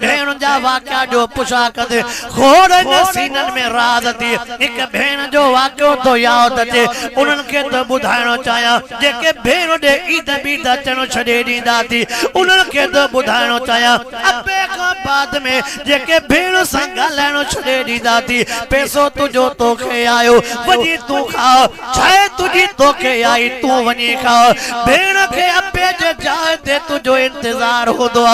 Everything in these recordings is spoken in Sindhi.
ڀيڻن جا واقعا جو پڇا ڪندي کوڙ هن سينن ۾ راز ٿي هڪ ڀيڻ جو واقعو ٿو ياد اچي انهن کي ٿو ٻڌائڻو چاهيان جيڪي ڀيڻ ڏي عيد بيد اچڻ ڇڏي ڏيندا ٿي انهن کي ٿو ٻڌائڻو چاهيان ابي کان بعد ۾ جيڪي ڀيڻ سان ڳالهائڻ ڇڏي ڏيندا ٿي پيسو تنهنجو توکي آيو وڃي تون کاء ڇاهي تنهنجي توکي آئي تون وڃي کاء ڀيڻ کي اپي جي جاء تي تنهنجو انتظار هوندو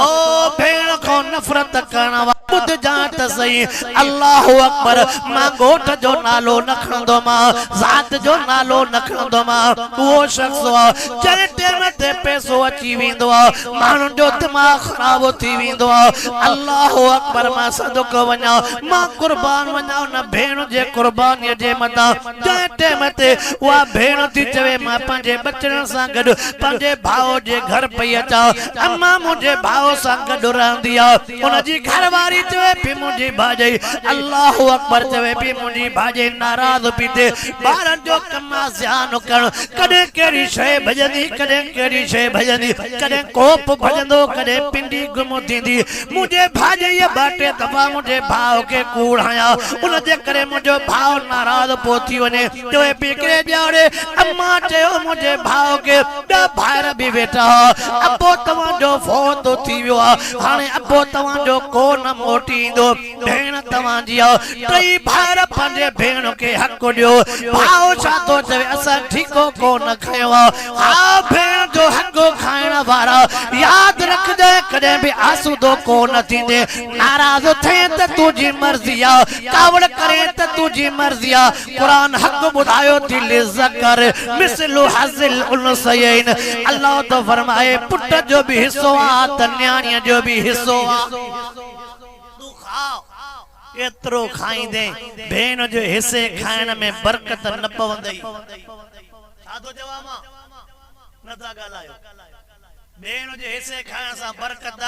او ڀيڻ کان نفرت ڪرڻ واري ٻڌ جانء ته سهي الله اڪبر مان ڳوٺ جو نالو نه کڻندو مان ذات جو نالو نه کڻندو مان اهو شخص آ جنهن ٽيم تي پئسو اچي ويندو آ ماڻهن جو دماغ خراب ٿي ويندو آ الله اڪبر مان صدقه وڃان مان قربان وڃان ان ڀيڻ جي قربانيء جي مداح، جنهن ٽيم تي اها ڀيڻ ٿي چوي مان پنهنجي ٻچڙن سان گڏ پنهنجي ڀاء جي گهر پئي اچان، امان منهنجي ڀاء سان گڏ رهندي آ. ان جي گهر واري چوي پئي منهنجي ڀاڄائي الله اڪبر چوي پئي منهنجي ڀاڄائي ناراض پئي ٿئي، ٻارن جو ڪم آ سيان ڪرڻ، ڪڏهن ڪهڙي شيء ڀڄندي ڪڏهن ڪهڙي شيء ڀڄندي، ڪڏهن ڪوپ ڀڄندو ڪڏهن پنڊي گم ٿيندي، منهنجي ڀاڄائيء ٻه ٽي دفعا منهنجي ڀاء کي ڪوڙ هنيا، ان جي ڪري منهنجو ڀاء ناراض پيو ٿي وڃي. جو هي پيڪري ڄاڻي. امان چيو، منهنجي ڀاء کي ٻيا ڀائر به ويٺا هئا. ابو توهان جو فوت ٿي ويو آهي. هاڻي ابو توهان جو ڪو نه موٽي ايندو. ڀيڻ توهان جي آهي. ٽئي ڀائر پنهنجي ڀيڻ کي حق ڏيو. ڀاء ڇا ٿو چوي، اسان ٺيڪو ڪو نه کنيو آهي. ها ڀيڻ جو حق کائڻ وارا ياد رکجانء ڪڏهن به آسودو ڪو نه ٿيندين ناراض ٿئين ته تنهنجي مرضي آ ڪاوڙ ڪرين ته تنهنجي مرضي آ قرآن حق ٻڌايو ٿي للذڪر مثل حظ الانثيين الله ٿو فرمائي پٽ جو به حصو آ ته نياڻيء جو به حصو آ تون کاء ڪيترو کائيندين ڀيڻ جو حصي کائڻ ۾ برڪت نه پوندئي. ڇا ٿو چوان مان نه ٿا ڳالهايو ٻين جي حصي کائڻ سان برڪت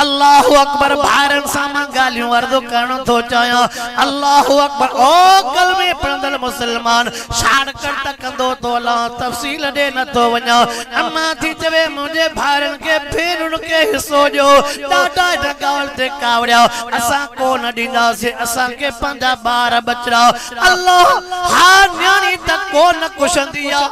الله اڪبر ڀائرن سان مان ڳالهيون عرض ڪرڻ ٿو چاهيان الله اڪبر او ڪلمي پڙهندڙ مسلمان شارٽ ڪٽ ڪندو ٿو هلان تفصيل ڏي نه ٿو وڃان اما ٿي چوي منهنجي ڀائرن کي ڀينرن کي حصو ڏيو ڏاڍا هن ڳالهه تي ڪاوڙيا اسان ڪو نه ڏينداسين اسان کي پنهنجا ٻار ٻچڙا الله! ها نياڻي ته ڪو نه ڪشندي آ.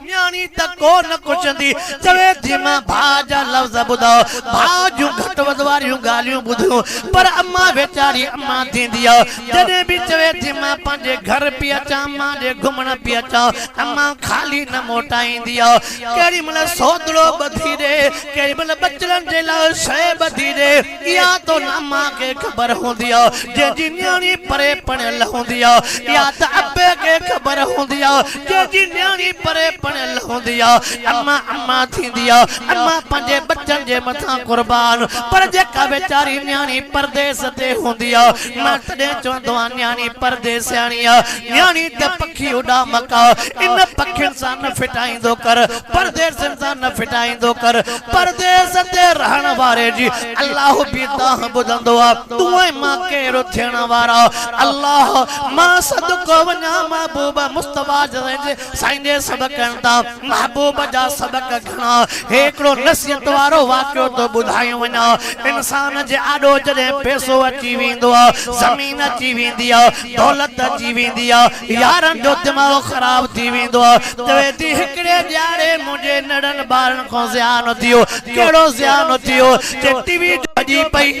نياڻي ته ڪو نه ڪشندي. چوي ٿي مان ڀاء جا لفظ ٻڌاء، ڀاء جون گهٽ وڌ واريون ڳالهيون ٻڌيون، پر امان ويچاري امان ٿيندي آ. جڏهن به چوي ٿي مان پنهنجي گهر پئي اچان، مان ڏي گهمڻ پئي اچان، امان خالي نه موٽائيندي آ. ڪهڙي مهل سوڌڙو ٻڌي ڏي، ڪهڙي مهل ٻچڙن جي لاء شيء ٻڌي ڏي. اها تو ناما کي خبر هوندي آ، جنهن جي نياڻي پري پڻيل هوندي آ. اها ته ابي کي خبر هوندي آ، جنهن جي نياڻي پري پڻيل هوندي آ. اما اما ٿيندي آ، اما پنهنجي ٻچن جي مٿان قربان، پر جيڪا ويچاري نياڻي پرديس تي هوندي آ، مان تڏهن چوندو آهيان نياڻي پرديسياڻي آ. نياڻي ته پکي اڏامڪ آ، ان پکين سان نه ڦٽائيندو ڪر، پرديسين سان نه ڦٽائيندو ڪر. پرديس تي رهڻ واري جي الله به دانهن ٻڌندو آ. تون ۽ مان ڪير ٿيڻ وارا؟ الله، مان صدقو وڃان محبوب مصطفيٰ جزين جي سائين جي سبقن تان محبوب جا سبق گهڻا. هيڪڙو نصيحت وارو واقعو ٿو ٻڌايو وڃان. انسان جي آڏو جڏهن پئسو اچي ويندو آ، زمين اچي ويندي آ، دولت اچي ويندي آ، يارن جو دماغ خراب ٿي ويندو آ. چوي ٿي هڪڙي ڄاڙي منهنجي نڙن ٻارن کان زيان ٿيو. ڪهڙو زيان ٿيو؟ چي ٽي وي جو ڀڄي پئي.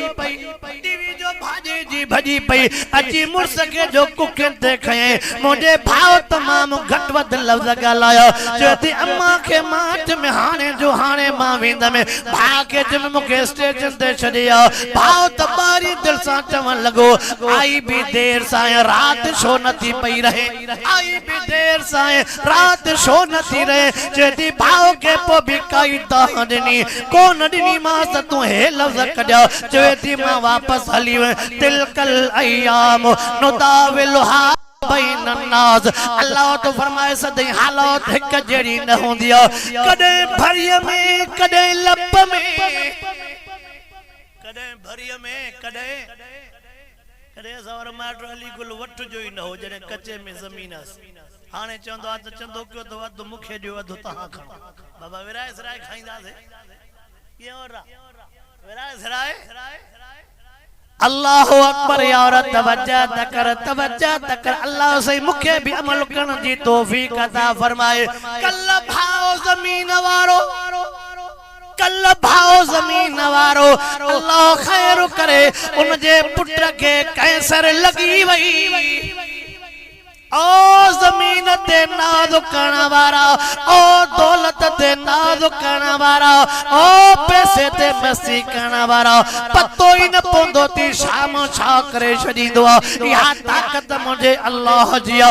ٽي وي جو ڀاڄي جي ڀڄي پئي. اچي مڙس کي جو ڪکين تي کنيائين. منهنجي ڀاء تمام گهٽ وڌ لفظ ڳالهايا. چوي ٿي امان کي مان چيم هاڻي جو هاڻي مان ويندم. ڀاء کي چيم مون کي اسٽيشن تي ڇڏي آ. ڀائو ته ٻاري دل سان چوڻ لڳو، آئي به دير سائين رات شو نه ٿي پئي رهي. آئي به دير سائين رات شو نه ٿي رهي. چيدي ڀائو کي پوء به ڪائي دانهن ڏني ڪونه ڏني مانس ته تون هي لفظ ڪڍيا. چيدي مان واپس هلي ويم. تلک الايام نداولها بين الناس الله ٿو فرمائي سدائين حالات هڪ جهڙي نه هوندي آهي. ڪڏهن ڀريء ۾ ڪڏهن لپ ۾. ڪڏهن ڀريء ۾، ڪڏهن ڪڏهن اسان وارو مائٽ علي گل وٺ جو ئي نه هو، جڏهن ڪچي ۾ زمين هئس. هاڻي چوندو آ ته چندو ڪيو اٿو، اڌ مون کي ڏيو، اڌ تهان کڻو. بابا ورهائي سرهائي کائينداسين. ڪيئن ورهاء؟ ورهائي سرهائي. الله اڪبر يار توجه ته ڪر توجه ته ڪر الله سائين مون کي به عمل ڪرڻ جي توفيق عطا فرمائي ڪل ڀاء زمين وارو. ڪل ڀاء زمين وارو الله خير ڪري ان جي پٽ کي ڪينسر لڳي وئي او زمين تي ناز ڪرڻ وارا او دولت تي ناز ڪرڻ وارا او پئسي تي مستي ڪرڻ وارا پتو ئي نه پوندو تي شام ڇا ڪري ڇڏيندو آ اها طاقت منهنجي الله جي آ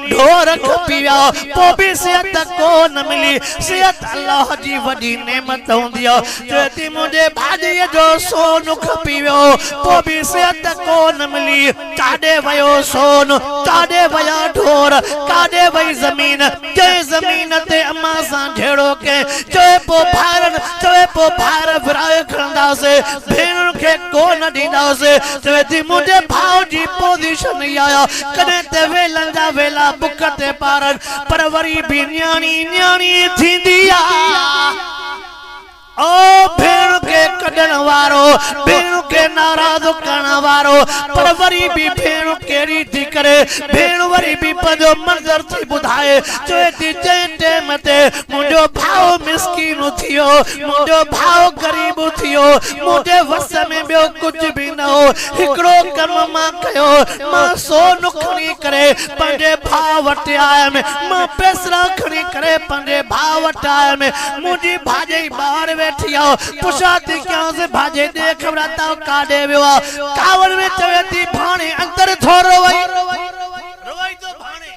ڍور کپيا پو به صحت ڪون ملي صحت الله جي وڏي نعمت هوندي آ چوي ٿي منهنجي ڀاڄي جو سون کپي ويو پو به صحت ڪون ملي ڪاڏي ويو سون ڪاڏي ويا ڍور ڪاڏي وئي زمين جنهن زمين تي اما سان جهيڙو ڪئين چوي پو ڀائرن چوي پو ڀائر ورهائي کڻنداسي ڀيڻن کي ڪون ڏينداسي چوي ٿي منهنجي ڀاء جي پوزيشن اها آ ڪڏهن ته ويلن جا ويلا بک تي ٻارن پر وري به نياڻي نياڻي ئي ٿيندي آ او ڀيڻ کي ڪڍڻ وارو ڀيڻ کي ناراض ڪرڻ وارو پر وري به ڀيڻ ڪهڙي ٿي ڪري ڀيڻ وري به پنهنجو منظر ٿي ٻڌائي چوي ٿي جنهن ٽيم تي منهنجو ڀاء مسڪين ٿيو منهنجو ڀاء غريب ٿيو منهنجي وس ۾ ٻيو ڪجهه به نه هو هڪڙو ڪم مان ڪيو مان سو نکڻي ڪري پنهنجي ڀاء وٽ آيم. مان پيسرا کڻي ڪري پنهنجي ڀاء وٽ آيم. منهنجي ڀاڄائي ٻاهر ويٺي آ. پڇا ٿي ڪيانس، ڀاڄائي ڏي خبر آ تائو ڪاڏي ويو آ. ڪاوڙ ۾ چوي ٿي، ڀاڻي اندر ٿو روئي. روئي ٿو ڀاڻي.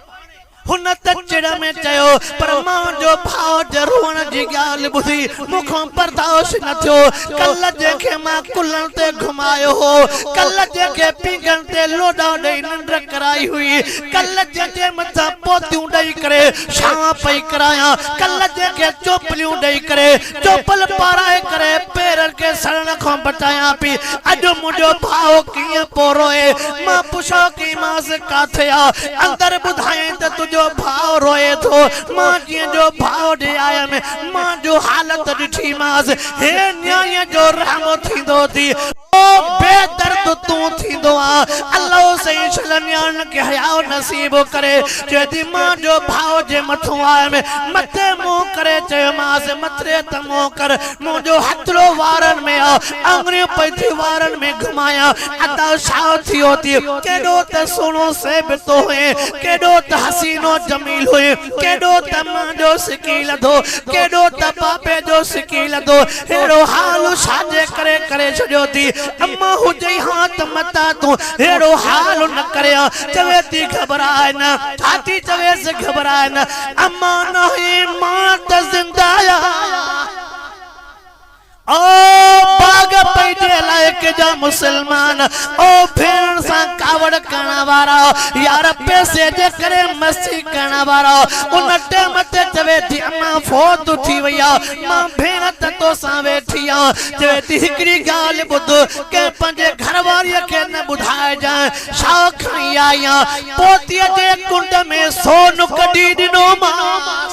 هن ته چڙ ۾ چيو، پر مان جو ڀاء جي روئڻ جي ڳالهه ٻڌي مون کان برداشت نه ٿيو. ڪلهه جنهن کي مان ڪلهن تي گهمايو هو، ڪلهه جنهن کي پينگهن تي لوڏا ڏئي ننڊ ڪرائي هئي، ڪلهه جنهن جي مٿان پوتيون ڏئي ڪري شام پئي ڪرايان، ڪلهه جنهن کي چوپليون ڏئي ڪري چوپل پارائي ڪري پيرن کي سڙڻ کان بچايان پي. اڄ منهنجو ڀاء ڪيئن پيو روئي. مان پڇيو ڪيمانس ڪاٿي آ؟ اندر ٻڌايائين ته تنهنجو ڀاء روئي ٿو. مان جيئن جو ڀاء ڏي آيم. مان جو حالت ڏٺيمانس. هي نياڻيء جو رحم ٿيندو ٿي. او بي درد تون ٿيندو آ الله سائين ڇل نياڻين کي حياء نصيب ڪري چوي ٿي مان جو ڀاء جي مٿون آء م مٿي منهن ڪري چيومانس مٿري ته منهن ڪر منهنجو هٿڙو وارن ۾ آ آڱريون پئي ٿي وارن ۾ گهمايان ادا ڇا ٿيو ٿي ڪيڏو ته سهڻو صيب تو هئين ڪيڏو ته حسين و جميل هئين ڪيڏو ته مان جو سڪي لڌو ڪيڏو ته بابي جو سڪي لڌو ههڙو حال هو ڇاجي ڪري ڪري ڇڏيو ٿي اما هجئي ها ته متان تون ههڙو حال نه ڪري ها چوي ٿي گهٻراء نه ڇا ٿي چويس گهٻراء نه اما ناهي مان ته زنده آهيان او باغ پنهنجي علائقي جا مسلمان او ڀيڻ سان ڪاوڙ ڪرڻ وارا يار پئسي جي ڪري مستي ڪرڻ وارا ان ٽيم تي چوي ٿي امان فوت ٿي وئي آ مان ڀيڻ ته توسان ويٺي آ، چوي ٿي هڪڙي ڳالهه ٻڌ، ڪنهن پنهنجي گهر واريء کي نه ٻڌائجانء، شاهه کڻي آئي آن، پوتيء جي ڪنڊ ۾ سون ڪڍي ڏنومانس.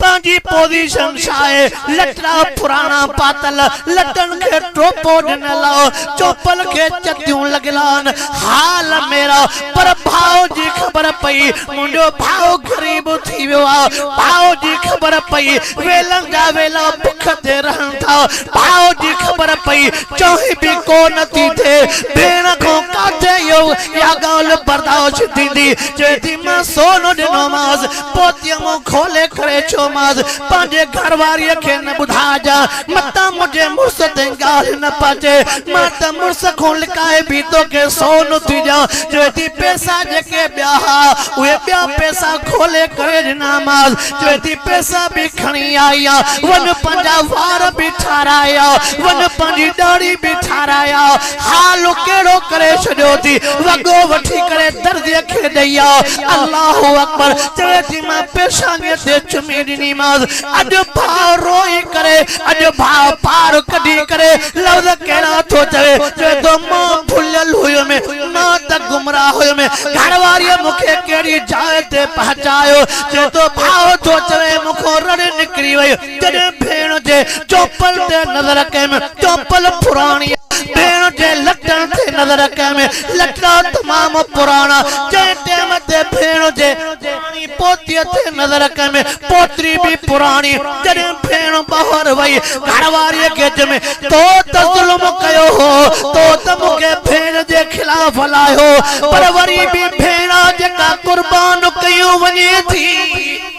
پنهنجي پوزيشن ڇا آهي، لٽڙا پراڻا پاتل، لٽن کي ٽوپو ڏنل آ، چوپل کي چتيون لڳل آن، حال ميرا، پر ڀاء جي خبر پئي، منهنجو ڀاء غريب ٿي ويو آ. ڀاء جي خبر پئي ويلن جا ويلا بک تي رهن ٿا. ڀاء جي خبر پئي چانهه به ڪو نه ٿي ٿئي. ڀيڻ کان ڪاٿي اهو اها ڳالهه برداشت ٿيندي. چوي ٿي مان سون ڏنومانس پوتيء منهن کولي ڪري چيومانس پنهنجي گهر واريء کي نه ٻڌائجان. متان منهنجي مڙس تي ڳالهه نه پچي، مان ته مڙس کان لڪائي به توکي سون ٿي ڏيان، جو اٿي پئسا جيڪي ٻيا ها، اهي ٻيا پئسا کولي ڪري ڏنامانس، جو اٿي پئسا به کڻي آئي آ، وڃ پنهنجا وار به ٺاراء آ، وڃ پنهنجي ڏاڙهي به ٺاراء آ، حال ڪهڙو ڪري ڇڏيو ٿي، وڳو وٺي ڪري درزيء کي ڏئي آ، الله اڪبر چوي ٿي مان پيشانيء تي چمي ڏنيمانس، اڄ ڀاء روئي ڪري، اڄ ڀاء پار ڪڍي ڪري لفظ ڪهڙا ٿو چوي، چوي ٿو مان ڀليل هيم، مان ته گمراهه هيم، گهر واريء مون کي ڪهڙي جاء تي پهچايو، چوي ٿو ڀاء ٿو چوي مون کان رڙ نڪري وئي، جڏهن ڀيڻ جي چوپل تي نظر ڪيم، چوپل پراڻي، ڀيڻ جي لٽن تي نظر ڪيم، لٽا تمام پراڻا، جنهن ٽيم تي ڀيڻ جي. پوتيء تي نظر ڪيم، پوتي به پراڻي، جڏهن ڀيڻ ٻاهر وئي، گهر واريء کي چيم، تو ته ظلم ڪيو هو، تو ته مون کي ڀيڻ جي خلاف هلايو، پر وري به ڀيڻ آ جيڪا قربان ڪيون وڃي ٿي.